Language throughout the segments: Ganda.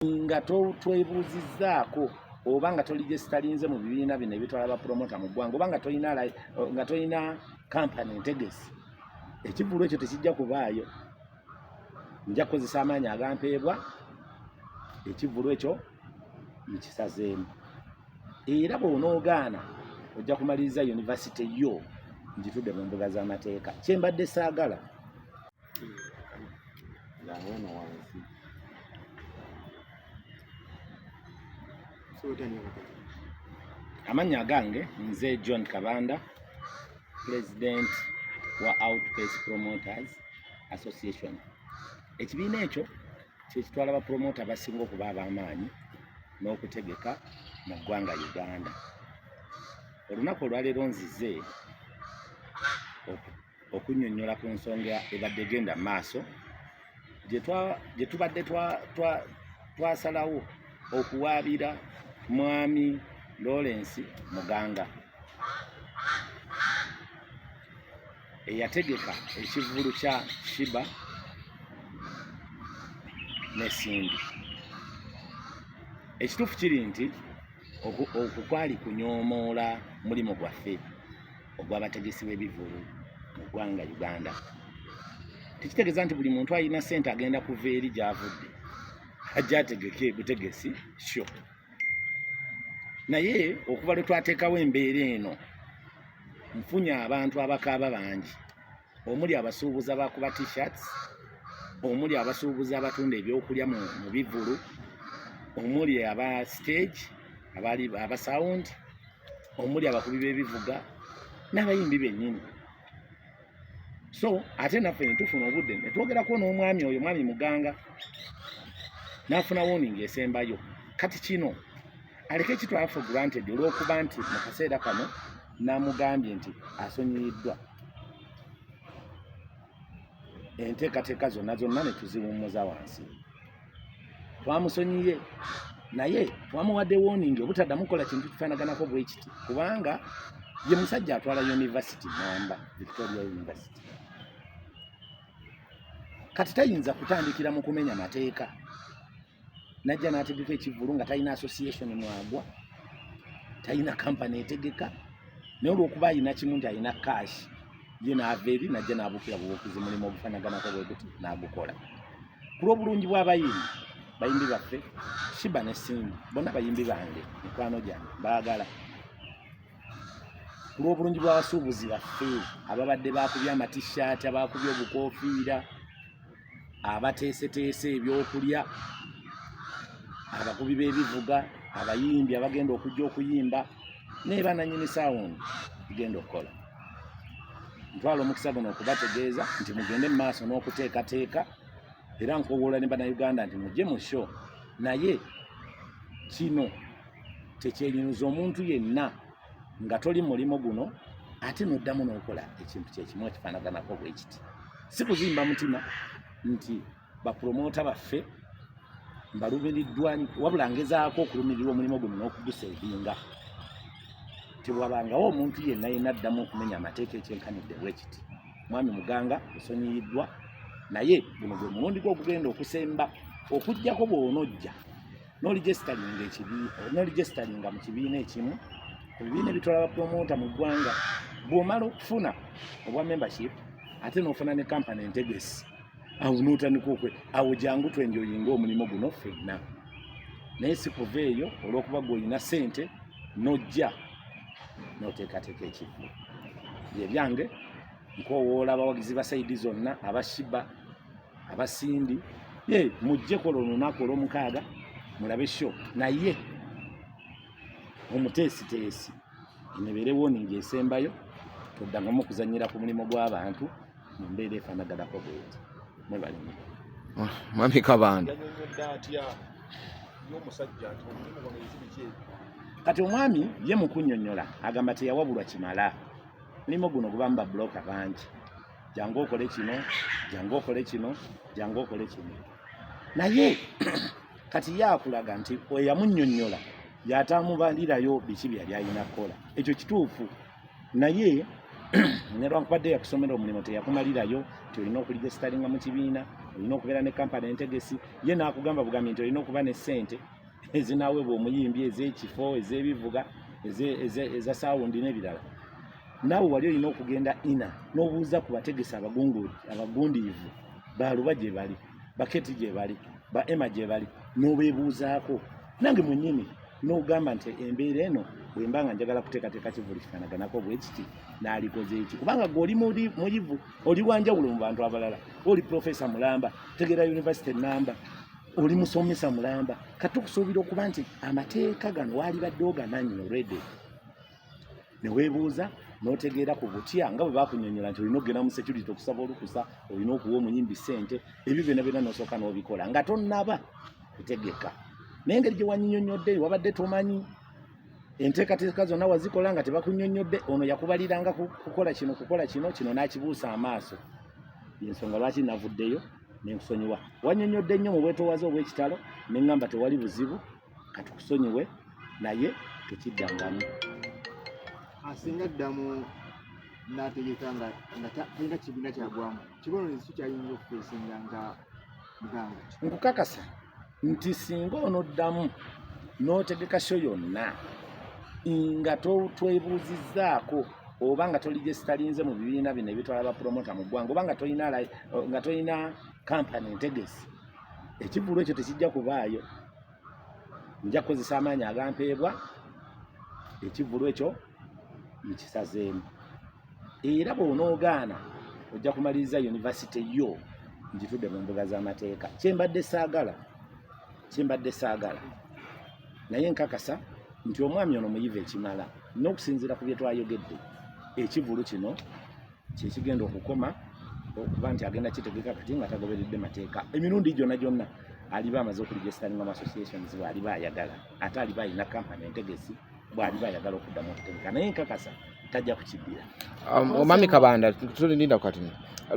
nga twebuuzizzaako oba nga toli gyesitalinze mu bibiina bino ebitwala bapromota mu ggwanga oba nga tolina kampani entegesi ekivulu ekyo tekijja kubaayo nja kukozesa amaanyi agampeebwa ekivulu ekyo nkisazeemu era bwonoogaana ojja kumaliriza yunivasite yo ngitudde mu mbuga z'amateeka kyembadde saagala amannya agange nze john kabanda president wa outpace promoters association ekibiina ekyo kyekitwala bapromota abasinga okuba ab'amaanyi n'okutegeka mu ggwanga uganda olunaku olwaleero nzize okunnyonnyola ku nsonga ebadde egenda mu maaso gye tubadde twasalawo okuwaabira mwami Lawrence Muganga eyategeka ekivvulu kya Shiba ne Cindy. Ekituufu kiri nti okwo kwali kunyoomoola mulimu gwaffe. ogw'abategesi b'ebivulu mu ggwanga Uganda tekitegeeza nti buli muntu alina ssente agenda kuva eri gy'avudde ajja ategeke butegesi sho naye okuva lwe twateekawo embeera eno nfunye abantu abakaaba bangi omuli abasuubuzi abakuba t-shirts omuli abasuubuzi abatunda ebyokulya mu bivulu omuli aba stage abali aba sound omuli abakubi b'ebivuga n'abayimbi bennyini so ate naffe ne tufuna obudde ne twogerako n'omwami oyo mwami muganga n'afuna woningi esembayo kati kino aleke kitwala for granted olw'okuba nti mu kaseera kano n'amugambye nti asonyiyiddwa enteekateeka zonna zonna ne tuziwummuza wansi twamusonyiye naye twamuwadde woningi obutaddamu kukola kintu kifaanaganako bwe kiti kubanga ye musajja atwala yunivasiti namba victoria university kati tayinza kutandikira mu kumenya mateeka najja n'ategeka ekivulu nga talina association mwagwa talina kampani etegeka naye olwokuba alina kimu nti alina cash ye naava eri najja n'abuukira bubuukizi mulimu ogufanaganako bwe guti n'agukola ku lw'obulungi bw'abayimbi bayimbi baffe shiba ne simbi bonna bayimbi bange mikwano gyange baagala ku lw'obulungi bw'abasuubuzi baffe ababadde baakubye amatishaati abaakubye obukofiira abateeseteese ebyokulya abakubi b'ebivuga abayimbi abagenda okujja okuyimba naye bananyini sawundi igenda okukola ntwala omukisa guno okubategeeza nti mugende mu maaso n'okuteekateeka era nkowoola ne banauganda nti mujje mu sho naye kino tekyenyinuza omuntu yenna nga toli mulimu guno ate noddamu n'okola ekintu kyekimu ekifaanaganako bwe kiti si kuzimba mutima nti bapulomoota baffe mbalumiriddwa wabula ngezaako okulumirirwa omulimu guno n'okuguseevinga tewabangawo omuntu yenna yenna addamu okumenya amateeka ekyenkanidde bwe kiti mwami muganga osonyiyiddwa naye guno gwe mulundi gwe ogugenda okusemba okugyako bwonojja noligestalinga mu kibiina ekimu ku bibiina ebitwala bapromota mu ggwanga bw'omala okufuna obwa membership ate n'ofuna ne kampani entegesi awo n'otandika okwe awo jangu twenjoyinga omulimu guno fenna naye sikuva eyo olw'okuba gwe olina sente n'ojja n'oteekateeka ekivulu bye byange nkowoola abawagizi ba saidi zonna abashiba abasimbi ye mujje kola olunaku olwomukaaga mulabe sho naye omuteesiteesi enebeerewo ningi esembayo toddangamu okuzanyira ku mulimu gw'abantu mu mbeera efanaganako bweti mwebalemu ah, mwami kabanda kati omwami ye mukunyonyola agamba teyawabulwa kimala mulimu guno gubamu babuloka bangi jangu okole kino jangu okole kino jangu okole kino naye kati yakulaga nti eyamunyonyola yatamubalirayo biki byeyali alina kukola ekyo kituufu naye nelwankubadde yakusomera omulimu teyakumalirayo nti olina okuliga esitalinga mu kibiina olina okubeera ne kampani entegesi ye naakugamba bugambi nti olina okuba ne ssente ezinaweebwa omuyimbi ez'ekifo ez'ebivuga eza sawundi n'ebirala naawe wali olina okugenda ina n'obuuza ku bategesi abagundiivu baluba gye bali baketi gye bali ba ema gye bali n'obeebuuzaako nange mwennyini n'ogamba nti embeera eno bwe mba nga njagala kuteekateeka kivuli kifanaganako bwe kiti n'alikoze eki kubanga gwe oli muyivu oli wanjawulo mu bantu abalala oli profesa mulamba tegera yunivasite namba oli musomesa mulamba kati tukusuubira okuba nti amateeka gano waalibadde ogamanyi olwedde ne weebuuza n'otegeera ku butya nga bwe bakunyonyola nti olina okugenda mu security okusaba olukusa olina okuwa omuyimbi ssente ebyo byona byona n'osooka n'obikola nga tonnaba kutegeka naye engeri gye wanyinyonyodde wabadde tomanyi enteekateeka zonna wazikola nga tebakunyonyodde ono yakubaliranga kukola kino kukola kino kino n'akibuusa amaaso yensonga lwaki navuddeyo nenkusonyiwa wanyonyodde nnyo mu bwetowaze obw'ekitalo ne ŋŋamba tewali buzibu katukusonyiwe naye tekiddangamu asinga ddamu n'ategeka nga talina kibiina kyagwamu kibonerezo ki kyayinza okufeesinga nga muganga nkukakasa nti singa onoddamu n'otegeka sho yonna nga twebuuzizzaako oba nga toli gyesitalinze mu bibiina bino ebitwala bapromota mu ggwanga oba nga tolina nga tolina kampani ntegesi ekivulu ekyo tekijja kubaayo nja kukozesa amaanyi agampeebwa ekivulu ekyo nkisazeemu era bw'onoogaana ojja kumaliriza yunivasite yo ngitudde mu mbuga z'amateeka kyembadde saagala kyembadde saagala naye nkakasa nti omwami ono muyiva ekimala n'okusinziira ku bye twayogedde ekivulu kino kyekigenda okukoma okuba nti agenda kitegeka kati nga tagoberedde mateeka emirundi gyonna gyonna aliba amaze okuligesitaninga mu associations bwaliba ayagala ate aliba alina kampani entegesi bwaliba ayagala okuddamu okutegeka naye nkakasa tajja kukibbira um, omwami kabanda tulinda kati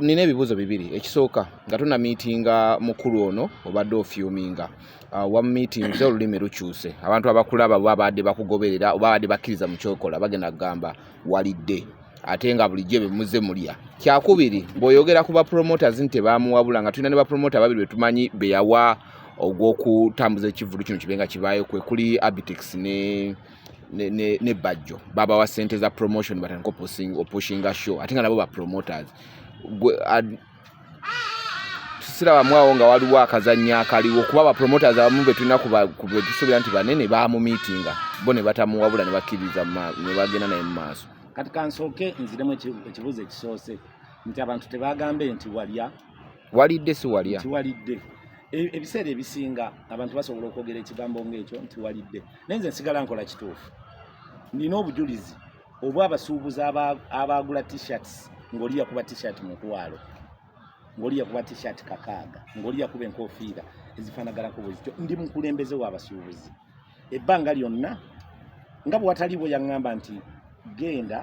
nina ebibuuzo bibiri ekisooka nga tuna miitinga mukulu ono obadde ofyuminga uh, wa miitinze olulimi lukyuse abantu abakulaba babadde bakugoberera oba babadde bakkiriza mu kyokola bagenda kugamba walidde ate nga bulijjo bye muze mulya kyakubiri bw'oyogera ku bapromoters nti tebaamuwabula nga tulina ne bapromota babiri be tumanyi be yawa ogw'okutambuza ekivulu kino kibe nga kibaayo kwe kuli abitex ne ne bajjo baba wa sente za promotion batandika opushinga show ate nga nabo ba promoters sirabamu awo nga waliwo akazannya akaliwo kuba bapromoters abamu betulina kubetusuubira nti banene baamumiitinga bo ne batamuwabula ne bakkiriza ne bagenda naye mu maaso kati kansooke nziremu ekibuuzo ekisoose nti abantu tebagambe nti walya walidde si walya nti walidde e, ebiseera ebisinga abantu basobola okwogera ekigambo ng'ekyo nti walidde naye nze nsigala nkola kituufu nina obujulizi oba abasuubuzi abaagula t-shirts ng'oli yakuba t-shirt mutwalo ng'oli yakuba t-shirt kakaaga ng'oli yakuba enkofiira ezifaanaganako bwezityo ndi mukulembeze w'abasuubuzi ebbanga lyonna nga bwe wataliiwo yaŋŋamba nti genda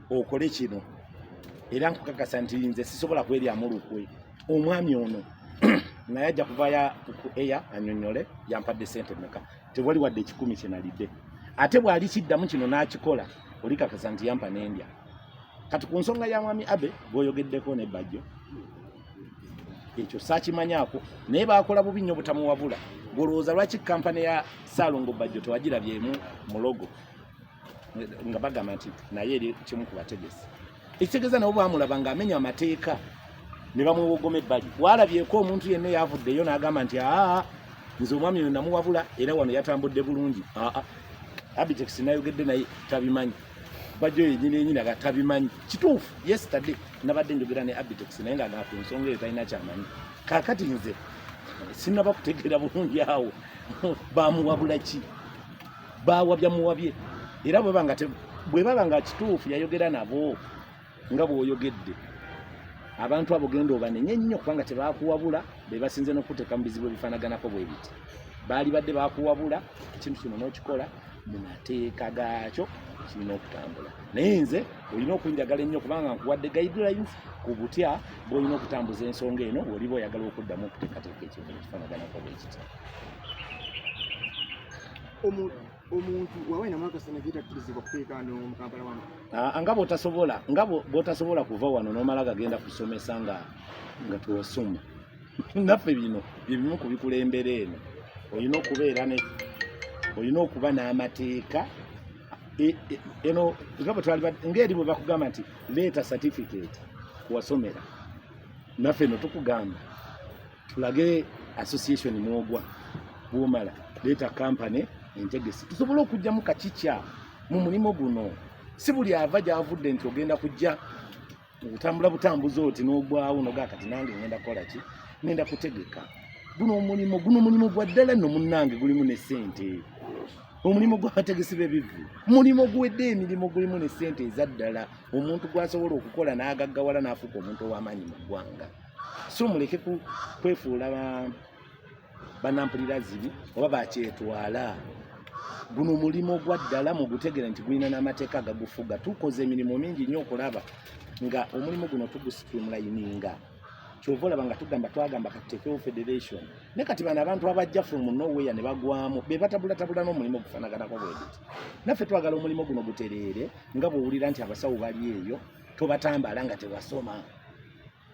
okole kino era nkukakasa nti nze sisobola kweryamu lukwe omwami ono naye ajja kuvayo ku eya anyonyole yampadde sente meka tewali wadde ekikumi kye nalidde ate bw'ali kiddamu kino n'akikola oli kakasa nti yampa n'endya kati ku nsonga ya mwami abe gw'oyogeddeko ne bajjo ekyo saakimanyako naye baakola bubi nnyo butamuwabula gwolowooza lwaki kampani ya saalongo bajjo tewagirabyemu mulogo nga bagamba nti naye eri kimu ku bategesi ekitegeeza nabo bamulaba nga amenya amateeka ne bamwewogoma ebbali walabyeko omuntu yenna eyavuddeyo n'agamba nti aa nze omwami oyo namuwabula era wano yatambudde bulungi aa abitex nayogedde naye tabimanyi bajjo yenyini yenyini aga tabimanyi kituufu yesterday nabadde njogera ne abitex naye nga naku nsonga eyo talina kyamanyi kakati nze sinaba kutegeera bulungi awo bamuwabula ki bawabya muwabye era bweba nga bwebaba nga kituufu yayogera nabo nga bwoyogedde abantu abo genda obanenye nnyo kubanga tebakuwabula bebasinze nokuteeka mu bizibu ebifanaganako bwebiti baali badde bakuwabula ekintu kino nokikola mu mateeka gaakyo kirina okutambula naye nze olina okunjagala ennyo kubanga nkuwadde guidelines ku butya bwolina okutambuza ensonga eno oliba oyagala okuddamu okuteekateeka ekintu ekifanaganako bwekiti omuntu wawe na mwaka sana vita tulizibwa kuteeka ndo mu Kampala wano ah, nga bwotasobola nga bwotasobola kuva wano nomala gagenda kusomesa nga nga tuwasoma naffe bino byebimu ku bikulembera eno olina okubeera ne olina okuba n'amateeka e, e, eno nga bwe twali ng'eri bwe bakugamba nti leeta certificate kuwasomera naffe no tukugamba tulage association mwogwa bwomala leeta kampany entegesi tusobole okugyamu kakikya mu mulimu guno si buli ava gyavudde nti ogenda kujja otambula butambuzi oti n'ogwawo noga kati nange ngenda kukola ki ngenda kutegeka guno omulimu guno omulimu gwa ddala nno munnange gulimu ne ssente omulimu gw'abategesi b'ebivvu mulimu guwedde emirimu gulimu ne ssente eza ddala omuntu gw'asobola okukola n'agaggawala n'afuuka omuntu ow'amaanyi mu ggwanga so muleke kwefuula banampulira zibi oba bakyetwala guno mulimu gwa ddala mugutegere nti gulina n'amateeka agagufuga tukoze emirimu mingi nnyo okulaba nga omulimu guno tugusitrimulayininga kyova olaba nga tugamba twagamba katutekewo federation naye kati bano abantu abajja from noweya ne bagwamu be batabulatabula n'omulimu gufanaganako bwegiti naffe twagala omulimu guno gutereere nga bwowulira nti abasawo bali eyo tobatambala nga tewasoma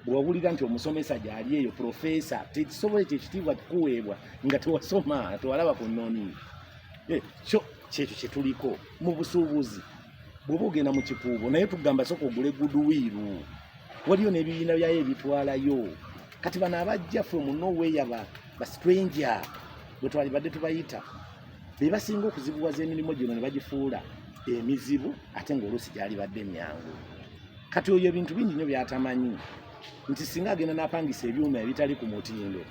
bwewawulira nti omusomesa gyali eyo profesa tekisobola ekyo ekitiibwa kuweebwa nga tewasoma tewalaba ku nnoni eh, kyo kyekyo kyetuliko mu busuubuzi bwoba ogenda mu kikuubo naye tugamba soka ogule guduwiiru waliyo n'ebibiina byayo ebitwalayo kati bano abajja fe munoweya bastranger bwetwalibadde tubayita be basinga okuzibuwaza emirimu gino ne bagifuula emizibu ate ng'oluusi gyalibadde emyangu kati oyo ebintu bingi nyo byatamanyi nti singa agenda napangisa ebyuma ebitali ku mutindo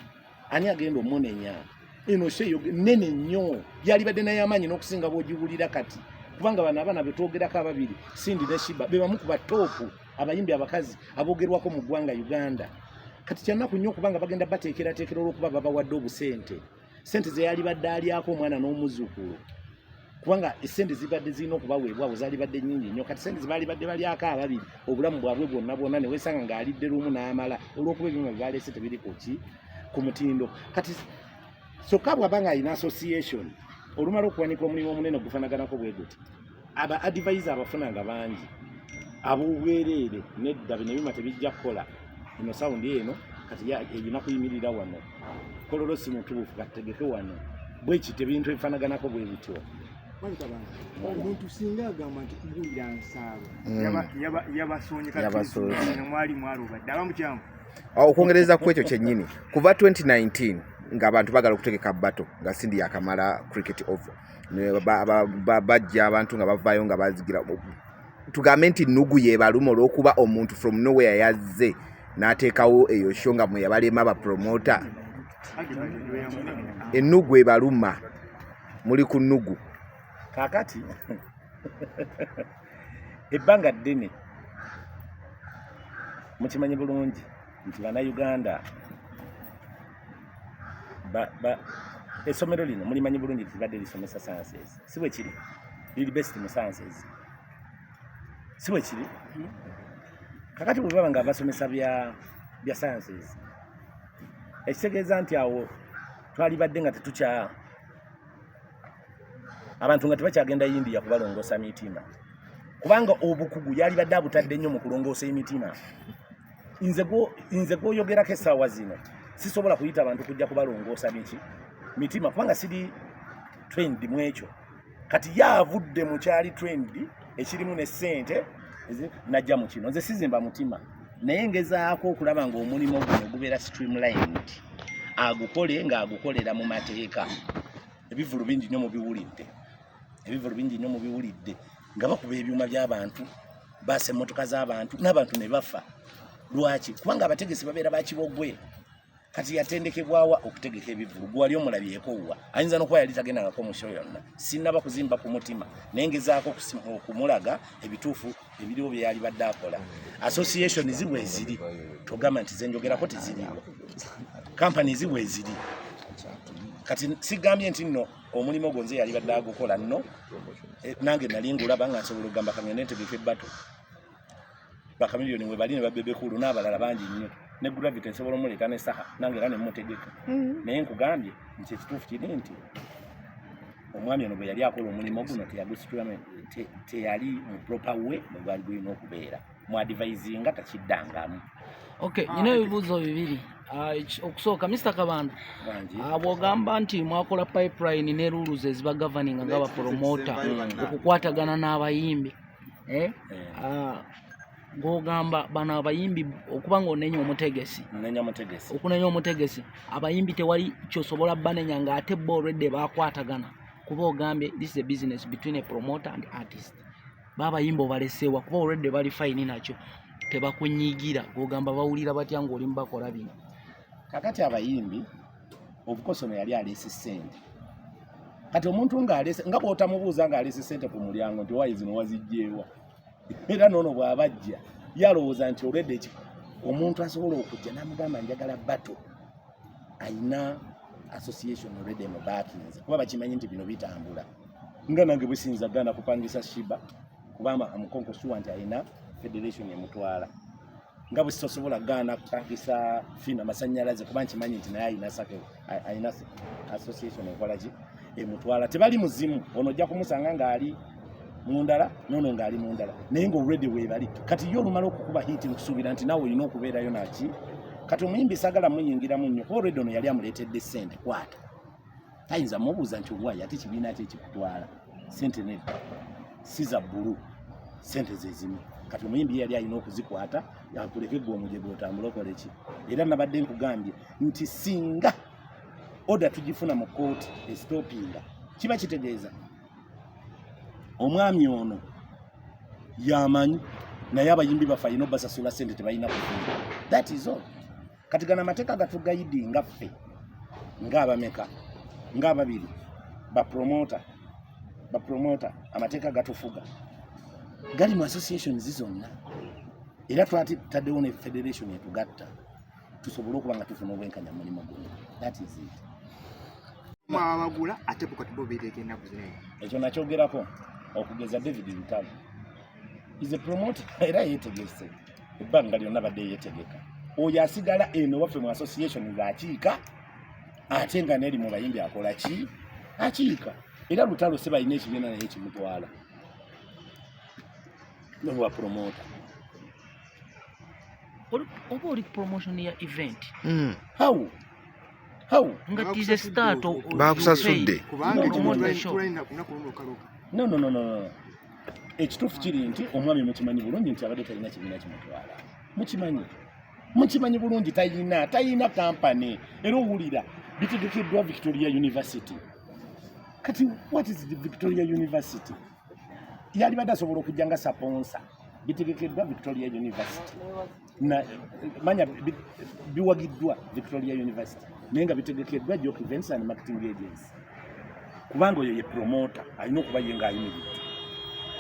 ani agenda omunenya eno sheyo nene nyo yalibadde naye amaanyi n'okusinga bwogiwulira kati kubanga bano abaana betwogerako ababiri sindi ne shiba bebamu ku batoopu abayimbi abakazi abogerwako mu ggwanga uganda kati kyanaku nyo okubanga bagenda bateekerateekera olwokuba babawadde obusente sente zeyalibadde alyako omwana n'omuzukulu kubanga esente zibadde zirina okubaweebwawo zalibadde nyingi nnyo kati sente zebalibadde balyako ababiri obulamu bwabwe bwonna bwonna newesanga ng'alidde lumu n'amala olwokuba ebyuma byebaleese tebiri kuki ku mutindo kati kyokka bwaba nga alina association olumala okuwanika omulimu omunene ogufanaganako bwe guti aba adivise abafuna nga bangi ab'obwereere nedda bino ebyuma tebijja kukola ino sawundi eno kati erina kuyimirira wano kololo si mutuufu kategeke wano bwekiti ebintu ebifanaganako bwe bityo omuntu singa agamba nti kubuulira nsaalo mm. yabasonyekmwali mwalubadde aba mukyamu ah, okwongereza ku ekyo kyennyini kuva 2019 ngaabantu bagala okutegeka bato nga sindi yakamala cricket over bajja abantu nga bavaayo nga bazigira tugambe nti nugu yebaluma olwokuba omuntu from nowhere yazze n'ateekawo eyo sho nga mweyabalema bapromota enugu ebaluma muli ku nugu kakati ebbanga ddene mukimanyi bulungi nti banauganda essomero lino mulimanyi bulungi tibadde lisomesa sciences si bwe kiri liri best mu sciences si bwe kiri hmm? kakati bwe baba nga basomesa bya bya sciences ekitegeeza nti awo twalibadde nga tetukya abantu nga tebakyagenda yindiya kubalongoosa mitima kubanga obukugu yalibadde abutadde nnyo mu kulongoosa emitima nze gwoyogerako esaawa zino sisobola kuyita bantu kujja kubalongoosa biki mitima kubanga siri trend mu ekyo kati ye avudde mu kyali trend ekirimu ne ssente najja mu kino nze sizimba mutima naye ngezaako okulaba ng'omulimu guno gubeera streamlined agukole ng'agukolera mu mateeka ebivulu bingi nnyo mubiwulidde ebivulu bingi nnyo mubiwulidde nga bakuba ebyuma by'abantu baasa emmotoka z'abantu n'abantu ne bafa lwaki kubanga abategesi babeera bakibogwe kati yatendekebwawa okutegeka ebivulu gwewali omulabyeko wa ayinza nokuba yali tagendangako musho yonna sinaba kuzimba ku mutima naye ngezaako okumulaga ebituufu ebiriwo byeyali badde akola association zibwe eziri togamba nti zenjogerako teziriwo kampani zibwe eziri kati sigambye nti nno omulimu ogwo nze yalibadde agukola nno eh, nange nali ngulaba nga nsobola okugamba kangende ntegeka ebbato bakamiliyoni webali ne babebekulu n'abalala bangi nnyo ne gravity nsobola omuleeta ne saha nange era nemutegeka mm-hmm. naye nkugambye nti ekituufu kiri nti omwami ono bwe yali akola omulimu guno teyagusitulamu teyali mu proper way bwe gwali gulina okubeera mwadivaizinga takiddangamu okay ah, nyina ebibuuzo bibiri ah, okusooka mr kabanda ah, bwogamba nti mwakola pipeline ne rules eziba governing nga bapromota okukwatagana n'abayimbi eh? Eh. ng'ogamba bano abayimbi okuba ng'onenya omutegesi okunenya omutegesi abayimbi tewali kyosobola banenya ng'ate bo already bakwatagana kuba ogambye this is a business between a promoter and artist babayimba obaleseewa kuba olwedde bali fayini nakyo tebakunyigira ogamba bawulira batya ngaoli mubakola bino kakati abayimbi obukosono yali aleese sente kati omuntu ngaalese nga bwotamubuuza ngaalese sente ku mulyango nti owayi zino wazijjeewa era noono bwabajja yalowooza nti olwedde omuntu asobola okujja namugamba njagala bato alina association already mu bakinze kuba bakimanyi nti bino bitambula nga nange bwesinza gana kupangisa shiba kubama amukonko sure nti alina federation emutwala nga bwesosobola gana kupangisa fina masanyalaze kuba nkimanyi nti naye alina sake alina association enkolaki emutwala tebali muzimu ono ojja kumusanga ng'ali mundala nono ng'ali mundala naye nga olredi weebali kati ye olumala okukuba hiiti nkusuubira nti nawe olina okubeerayo naki kati omuyimbi sagala muyingiramu nnyo kuba olredi ono yali amuleetedde ssente kwata tayinza mubuuza nti oluwayi ate kibiina ki ekikutwala sente nedda siza bbulu sente zezimu kati omuyimbi yali alina okuzikwata akuleke gwe omuje gwotambulokoleki era nabadde nkugambye nti singa oda tugifuna mu kooti esitopinga kiba kitegeeza omwami ono yamanyi naye abayimbi baffe alina obasasula sente tebalina kufuna that is all kati gana amateeka gatugayidi nga ffe ngaabameka ngaababiri bapromota bapromota amateeka gatufuga gali mu associations zonna era twataddewo ne federation etugatta tusobole okuba nga tufuna obwenkanya mu mulimu guno that is it mwabagula ate bukati bo beeteeka ennaku zino ekyo nakyogerako okugeza david lutalo is a promoter era yeetegese ebbanga lyonna badde yeetegeka oyo asigala eno waffe mu association ng'akiika ate nga neeri mu bayimbi akola ki akiika era lutalo se balina ekibiina naye kimutwala nowa promoter oba oli promotion ya event mm. how how nga tize start bakusasudde kubanga no no no no ekituufu kiri nti omwami mukimanyi bulungi nti abadde talina kibiina kimutwala mukimanyi mukimanyi bulungi tayina tayina kampany era owulira bitegekeddwa victoria university kati what is the victoria university yalibadde asobola okujja nga saponsa bitegekeddwa victoria university manya biwagiddwa victoria university naye nga bitegekeddwa jok events and marketing agency kubanga oyo ye promota alina okuba ye nga ayimiridde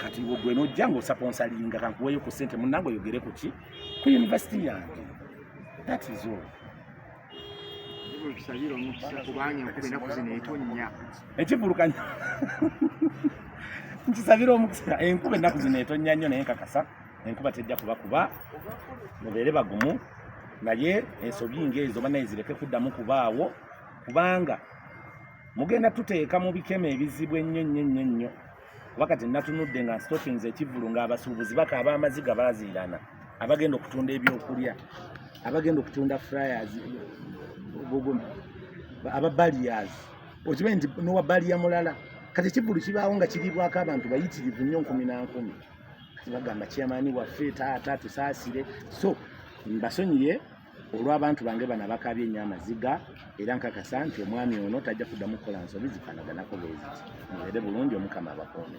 kati gwe nojja nga osaponsalinga kankuweyo ku sente munange oyogere kuki ku university yange that is all ekivulukanya nkisabira omukisa enkuba ennaku zino etonnya nnyo naye nkakasa enkuba tejja kuba kuba mubeere bagumu naye ensobi ngaezo banaye zireke kuddamu kubaawo kubanga mugenda tuteeka mu bikemo ebizibu ennyo nnyo nnyo nnyo wakati natunudde nga nstokinze ekivulu ng'abasuubuzi bakaaba amaziga baaziirana abagenda okutunda ebyokulya abagenda okutunda fryers aba balias okibe nti nowa baliya mulala kati ekivulu kibaawo nga kiriibwako abantu bayitirivu nnyo nkumi na nkumi kati bagamba kyamaani waffe taata tusaasire so mbasonyiye olw'abantu bange bano abakaabye ennyo amaziga era nkakasa nti omwami ono tajja kuddamu kukola nsobi zifaanaganako bwe ziti mubeere bulungi omukama abakuume